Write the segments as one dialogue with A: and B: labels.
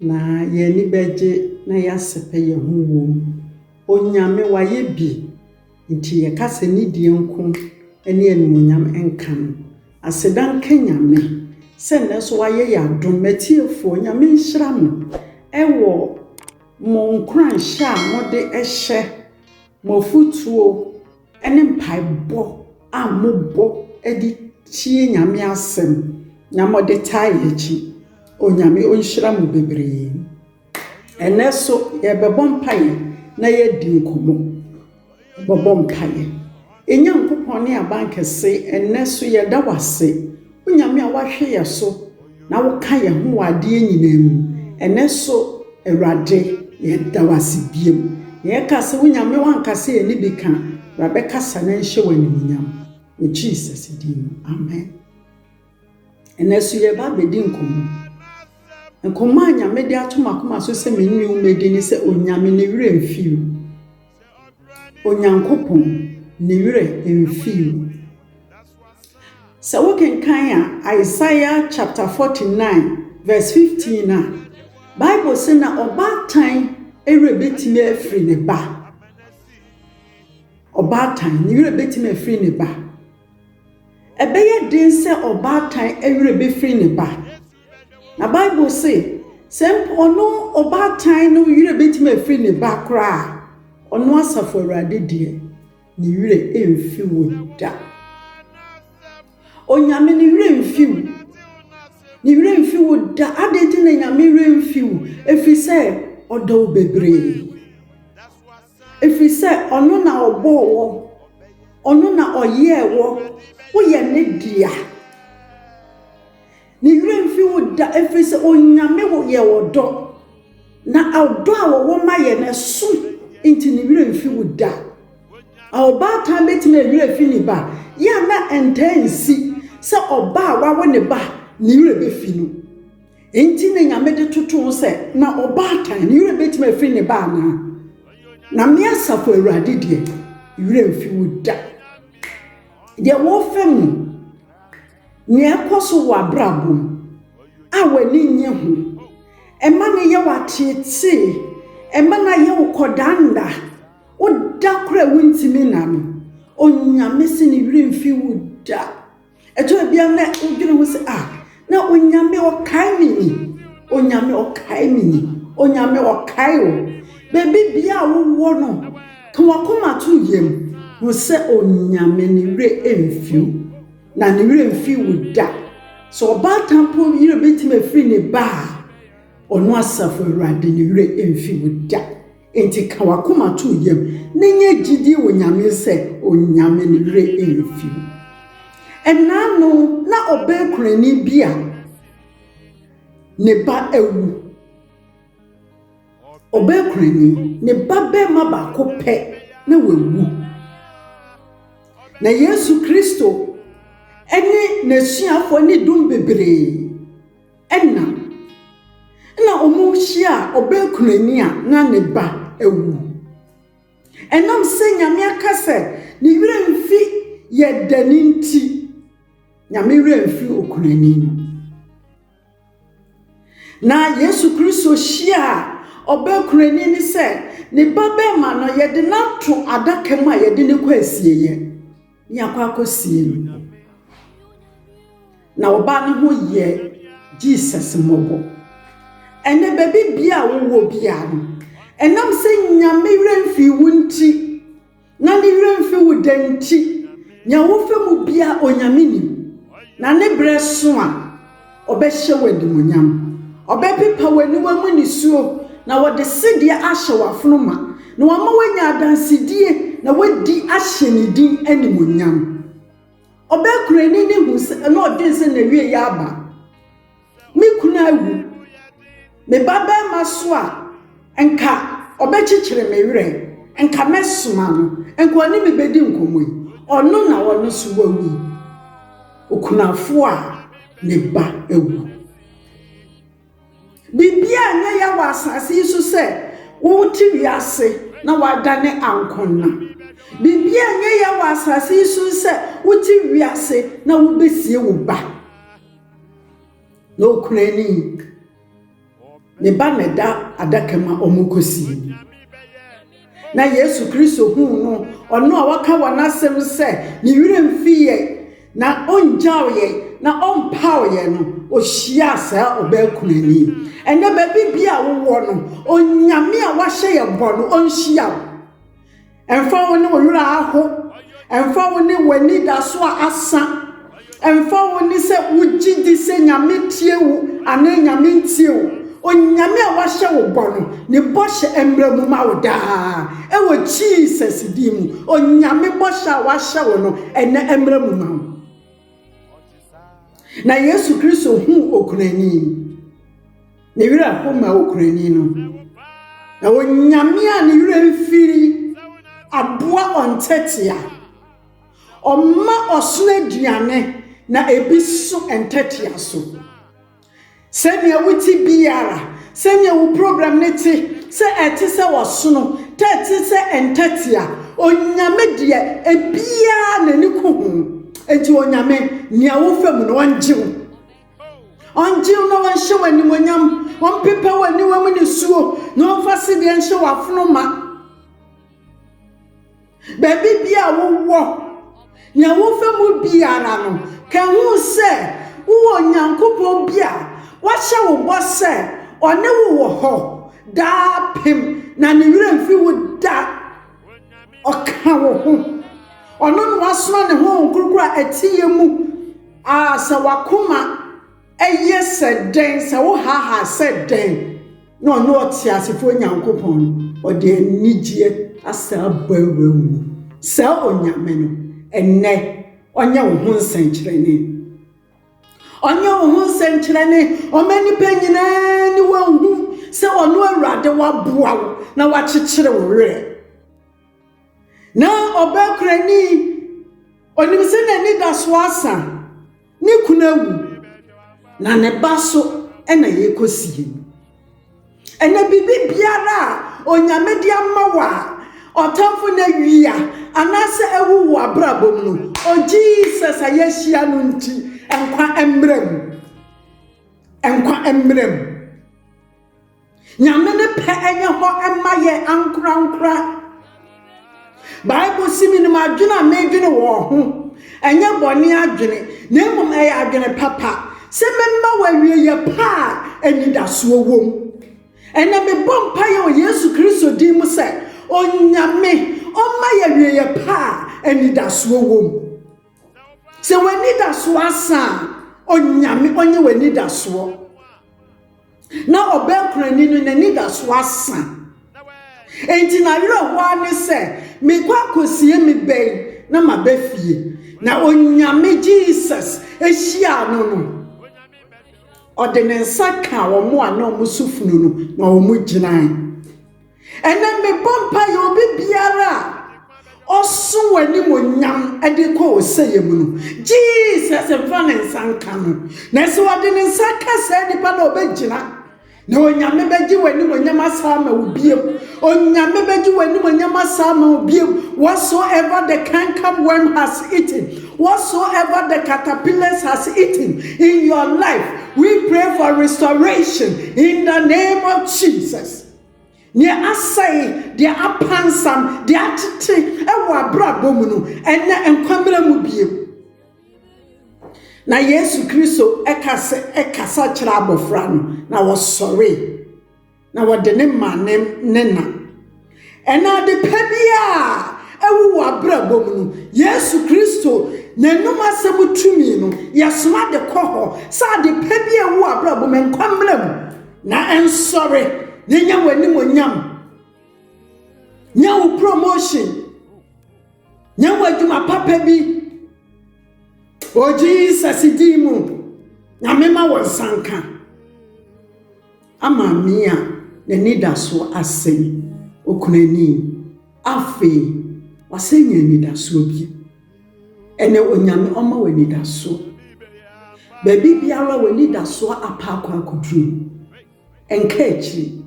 A: Na yɛn ani bɛgye na yɛasɛpɛ yɛn ho wom. Onyame, wayɛ bi, nti yɛka sɛ nidie nko ne animuonyam nka no. Aseda nka Nyame sɛ nnɛ nso wayɛ yɛn adom. M'atiefoɔ, Nyame nhyira mo wɔ mo nkuranhyɛ a mode hyɛ, mo afotuo, ne mpaebɔ a mobɔ de tie Nyame asɛm na mode taa yɛ akyi. Onyame ɔnhyira mo bebree. Ɛnnɛ so yɛbɛbɔ mpaeɛ na yɛadi nkɔmmɔ. Yɛbɛbɔ mpaeɛ. Nyankopɔn ne abankɛse, ɛnnɛ so yɛda wo ase O Nyame a woahwe yɛ so na woka yɛ ho wɔ adeɛ nyinaa mu, ɛnɛ so Awurade yɛda wo ase biom na yɛka sɛ, O Nyame woanka sɛ yɛne bi ka, bra bɛkasa na nhyɛ wo animuonyam wɔ Jesus din mu, amen. Ɛnɛ so yɛreba abɛdi nkɔmmɔ. Nkɔmmɔ a Nyame de ato m'akoma so sɛ me ne wo mmɛdi ne sɛ, Onyame ne werɛ mfii wo. Onyankopɔn ne werɛ mfii wo. Sɛ wokenkan a Isaiah chapter 49 verse 15 a, Bible se na ɔbaatan werɛ betumi afiri ne ba. Ɔbaatan, ne werɛ betumi afiri ne ba. Ɛbɛyɛ den sɛ ɔbaatan werɛ befiri ne ba. Na Bible se, sɛ mpo ɔno ɔbaatan no werɛ bɛtumi afiri ne ba koraa a, ɔno Asafo Awurade deɛ, ne werɛ remfi wo da. Onyame ne werɛ mfi wo. Ne werɛ mfi wo da. Adɛn nti na Nyame werɛ mfi wo? Ɛfiri sɛ, ɔdɔ wo bebree. Ɛfiri sɛ ɔno na ɔbɔɔ wɔ, ɔno na ɔyɛɛ wɔ, woyɛ ne dea. Ne werɛ mfi wo da, ɛfiri sɛ Onyame yɛ ɔdɔ, na ɔdɔ a wɔwɔ ma yɛ no ɛso nti ne werɛ mfi wo da. A Ɔbaatan bɛtumi awerɛ afi ne ba? Yɛ a na ɛntaa nsi sɛ ɔba a wawo ne ba ne werɛ bɛfi no. Enti na Nyame de toto ho sɛ, Na ɔbaatan, ne werɛ bɛtumi afiri ne ba anaa? Na me Asafo Awurade deɛ, me werɛ mfi wo da. Deɛ wɔfa mu, nea ɛkɔ so wɔ abrabɔ mu a w'ani nnye ho, ɛma no yɛ wo ateetee, ɛma no ayɛ wo kɔdanda, woda koro a wontumi nna no, Onyame se ne werɛ mfi wo da. Ɛtɔ bi a na wodwene ho sɛ, ah, na Onyame ɔkae me ni. Onyame ɔkae me ni. Onyame ɔkae o. Baabi bia a wowɔ no, ka wakoma to yam. Hu sɛ Onyame ne werɛ mfiw. Na ne werɛ mfi wo da. Sɛ ɔbaatan po werɛ bɛtumi afiri ne ba a, ɔno asafo awurade ne werɛ mfi wo da. Enti ka w'akoma to yam na nya gyidie wɔ Nyame sɛ Onyame ne werɛ mfi wo. Ɛnaano na ɔbɛn Kurani bi a ne ba awu. Ɔbɛn Kurani, ne ba bɛrima baako pɛ na wawu. Na Yesu Kristo ne n'asuafoɔ ne dɔm bebree. Nna nna wɔrehyia ɔbaakunani a na ne ba awu. Ɛnam sɛ Nyame aka sɛ ne werɛ mfi yɛ dɛ no nti, Nyame werɛ mfii okunani no. Na Yesu Kristo hyiaa ɔbaakunani no sɛ ne ba bɛrima no yɛde no ato adaka mu a yɛde no kɔ asieɛ. ne akɔ akɔsie no hɔ. Na ɔbaa no ho yɛɛ Jesus mmɔbɔ. Ɛnnɛ, baabi bia a wowɔ bia no, ɛnam sɛ Nyame werɛ mfii wo nti, na ne werɛ mfi wo da nti, nea wofɛ mu bia Onyame nim, na ne berɛ so a, Ɔbɛhyɛ wo animuonyam. Ɔbɛpepa w'aniwa mu nisuo, na ɔde sedeɛ ahyɛ w'afono ma, na wama woanya adansedie, na woadi ahyɛ ne din animuonyam. Ɔbɛkora ani ne hu sɛ, na ɔdwen sɛ n'awieeɛ aba. Me kunu awu. Me babarima so a, nka ɔbɛkyekyere me werɛ, nka mɛsoma no, nka ɔne me bɛdi nkɔmmɔ yi, ɔno na ɔno nso wawu yi, okunafo a ne ba awu. Biribiara nyɛ ya wɔ asase yi so sɛ wote wiase na woadane ankɔnna. Biribiara nyɛ ya wɔ asase yi so sɛ wote wiase na wobɛsie wo ba. na okura ne ink. Ne ba na ɛda adaka mu a wɔrekɔsie. Na Yesu Kristo huu no, ɔno a waka wɔ n'asɛm sɛ ne werɛ mfi yɛn na ɔngyaw yɛn na ɔmpaw yɛn no, ohyiaa saa ɔbaa kunani. Ɛnɛ baabi bi a wowɔ no, Onyame a wahyɛ yɛn bɔ no, ɔnhyia wo. Ɛmfa wo ne wo werɛ aho, ɛmfa wo ne w'anidaso a asa, ɛmfa wo ne sɛ wogye di sɛ Nyame tie wo anaa Nyame ntie wo, Onyame a wahyɛ wo bɔ no, ne bɔhyɛ mmra mu ma wo daa, ɛwɔ Jesus din mu, Onyame bɔhyɛ a wahyɛ wo no, ɛnɛ mmra mu ma wo. Na Yesu Kristo huu okunani. Ne werɛ how ma Okurani no, na Onyame a ne werɛ mfiri aboa ɔntɛtea. Ɔma ɔsono aduane na ebi so ntɛtea so. Sɛnea wote biara, sɛnea wo program ne te, sɛ ɛte sɛ ɔsono, tɛ ɛte sɛ ntɛtea, Onyame deɛ ebiara n'ani ko ho. Enti Onyame, nea wofa mu no, ɔngye wo. Ɔngye wo na ɔnhyɛ w'animuonyam, ɔmpepa w'aniwa mu nisuo, na ɔmfa sedeɛ nhyɛ w'afono ma. Baabi bi a wowɔ, nea wofa mu biara no, ka ho sɛ wowɔ Onyankopɔn bi a wahyɛ wo bɔ sɛ ɔne wo wɔ hɔ daa pem na ne werɛ mfi wo da. Ɔka wo ho. Ɔno na wasoma ne honhom kronkron a ɛteyɛ mu A Sɛ w'akoma yɛ sɛ dɛn, sɛ wohaahaa sɛ dɛn na ɔno ɔteasefoɔ Nyankopɔn no, ɔde anigyeɛ asan abɔ awura wo mu. Saa Onyame no, ɛnnɛ, ɔnyɛ wo ho nsɛnkyerɛnne. Ɔnyɛ wo ho nsɛnkyerɛnne, ɔma nnipa nyinaa ni wɔahu sɛ ɔno Awurade waboa wo na wakyekyere wo werɛ. Na ɔbaa kurani, onim sɛ n'anidaso asa, ne kunu awu, na ne ba so na yɛkɔsie no. Ɛnna biribi biara a onyame de ama wo a ɔtamfo no awia anaasɛ awu wɔ abrabɔ mu no, o Jesus a yɛahyia no nti, nkwa mmra mu. Nkwa mmra mu. Nyame ne pɛ nyɛ hɔ mma yɛ ankorankora. Bible si menim adwene a medwene wɔn ho. Ɛnyɛ bɔne adwene, na mmom ɛyɛ adwene papa. Sɛ memma wɔawieyɛ pa a anidasoɔ wom. Ɛnɛ mebɔ mpaeɛ wɔ Yesu Kristo din mu sɛ, Onyame, ɔmma yɛ awieyɛ pa a anidasoɔ wom. Sɛ w'anidasoɔ asa a, Onyame ɔnyɛ w'anidasoɔ. Na ɔbɛnkorani no, n'anidaso asa. Enti n'awerɛhoɔ ara ne sɛ, mekɔ akɔsie me ba yi na maba fie. Na Onyame, Jesus, hyiaa no no, ɔde ne nsa kaa wɔn a na wɔso funu no, na wɔgyinae. Ɛnnɛ mebɔ mpaeɛ obi biara a ɔso w'animuonyam de kɔ ɔsɛeɛ mu no, Jesus mfa ne nsa nka no. Na sɛ ɔde ne nsa ka saa nipa no ɔbɛgyina, na Onyame bɛgye w'animuonyam asa ama wo biom. Onyame bɛgye w'animuonyam asa ama wo biom. Whatsoever the canker worm has eaten, whatsoever the caterpillars has eaten in your life, we pray for restoration in the name of Jesus. Deɛ asɛe, deɛ apansam, deɛ atete wɔ abrabɔ mu no, ɛnɛ nkwa mmra mu bio. Na Yesu Kristo kasa, kasa kyerɛ abɔfra no, na wɔsɔre, na wɔde ne ma ne, ne na. Ɛnɛ ade pa biara awu wɔ abrabɔ mu no, Yesu Kristo n'anum asɛm tumi no, yɛsoma de kɔ hɔ sɛ ade pa bi a awu wɔ abrabɔ mu, nkwa mmra mu. Na nsɔre na nya w'animuonyam. Nya wo promotion. Nya w'adwuma papa bi. O Jesus din mu, Nyame ma wo nsanka. Ama me a n'ani da so asɛe okunu ani afei wasɛe anidasoɔ bi. Ɛnɛ, Onyame ɔma wo anidasoɔ. Baabi biara w'anidasoɔ apɛ akɔ akɔduru no, nka akyiri.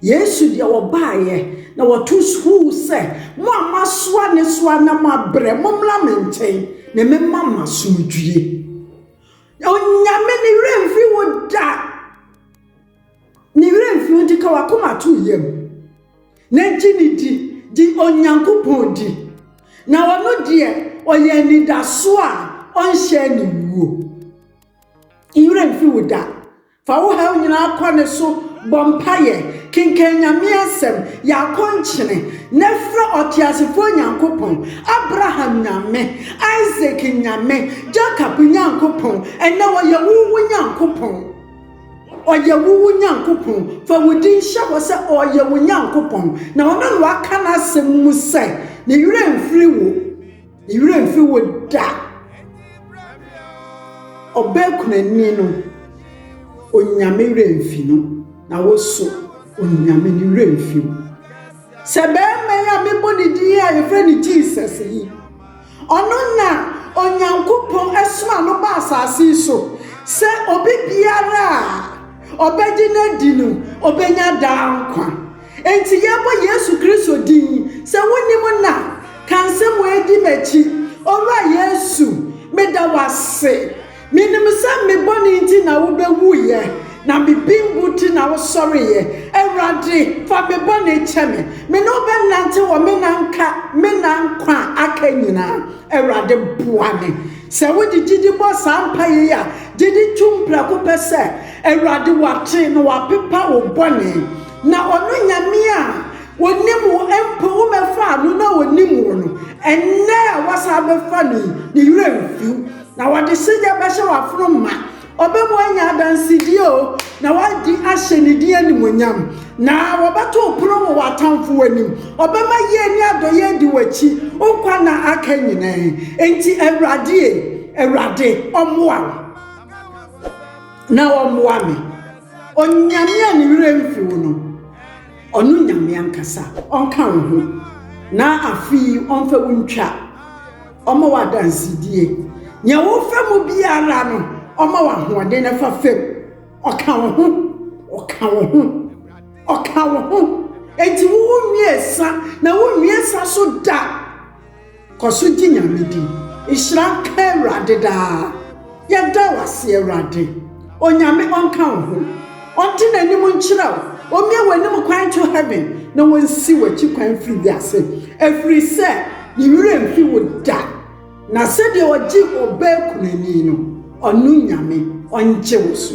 A: Yesu deɛ ɔbaeɛ na wɔto sukuu sɛ, mo a moasoa ne so na moabrɛ, mommra me nkyɛn na mɛma mo asomdwie. Onyame ne werɛ mfiri wo da. Ne werɛ mfi wo de ka w'akoma to yam, na gye no di, gye Onyankopɔn di, na ɔno deɛ ɔyɛ anidaso a ɔnhyɛ ne wuo. Ne werɛ mfi wo da. Fa wo haw nyinaa kɔ ne so, bɔ mpaeɛ, kenkan Nyame asɛm, yɛ akɔnkyene, na frɛ ɔteasefoɔ Nyankopɔn, Abraham Nyame, Isak Nyame, Jacob Nyankopɔn, ɛnnɛ ɔyɛ wo wo Nyankopɔn. Ɔyɛ wo wo Nyankopɔn. Fa wo din hyɛ hɔ sɛ ɔyɛ wo Nyankopɔn, na ɔne no aka n'asɛm mu sɛ, Ne werɛ mfiri wo, ne werɛ mfiri wo da. Ɔbaa kunani no, Onyame werɛ mfi no, na wo nso, Onyame ne werɛ mfi wo. Sɛ barima yi a mebɔ ne din yi a yɛfrɛ no Jesus yi, ɔno na Onyankopɔn asoma no ba asase yi so sɛ obi biara a ɔbɛgye no adi no, ɔbɛnya daa nkwa. Enti yɛbɔ Yesu Kristo din yi. Sɛ wonim no a, ka nsɛm wei di m'akyi, Owura Yesu, meda wo ase. Menim sɛ me bɔne nti na wobɛwuiɛ, na me bembu nti na wosɔreeɛ. Awurade, fa me bɔne kyɛ me. Me ne wo bɛnante wɔ me nna nka me nna nkwa a aka nyinaa. Awurade, boa me. Sɛ wode gyidi bɔ saa mpaeɛ yi a, gye di tom prɛko pɛ sɛ, Awurade, wate na wapepa wo bɔne. Na ɔno Nyame a ɔnim wo mpo, womɛfaa no na ɔnim wo no, ɛnnɛ a woasan abɛfa no yi, ne werɛ mfiw. Na wɔde sida bɛhyɛ w'afono ma, ɔbɛma anya adansedie o, na wadi ahyɛ ne din animuonyam. Na wɔbɛto wo pono wɔ w'atamfoɔ anim, ɔbɛma yie ne adɔeɛ adi w'akyi wo nkwa nna aka nyinaa. Enti Awurade ei, Awurade ɔmmoa wo na ɔmmoa me. Onyame a ne werɛ mfi wo no, ɔno Nyame ankasa ɔnka wo ho, na afe yi ɔmfa wo ntwa. Ɔma wo adansedie. Nea wofa mu biara no, Ɔma wo ahoɔden na fa fa mu. Ɔka wo ho. Ɔka wo ho. Ɔka wo ho. Enti wo wo mmiɛnsa na wo mmiɛnsa so da. Kɔ so gye Nyame di. Nhyira nka Awurade daa. Yɛda wo ase Awurade. Onyame ɔnka wo ho. Ɔnte n'anim nkyerɛ wo. Ɔmie w'anim kwan to heaven na ɔnsi w'akyi kwan firi wiase. Ɛfirisɛ ne werɛ mfi wo da. Na sɛdeɛ ɔgye ɔbaa kunani no, ɔno Nyame ɔngye wo so.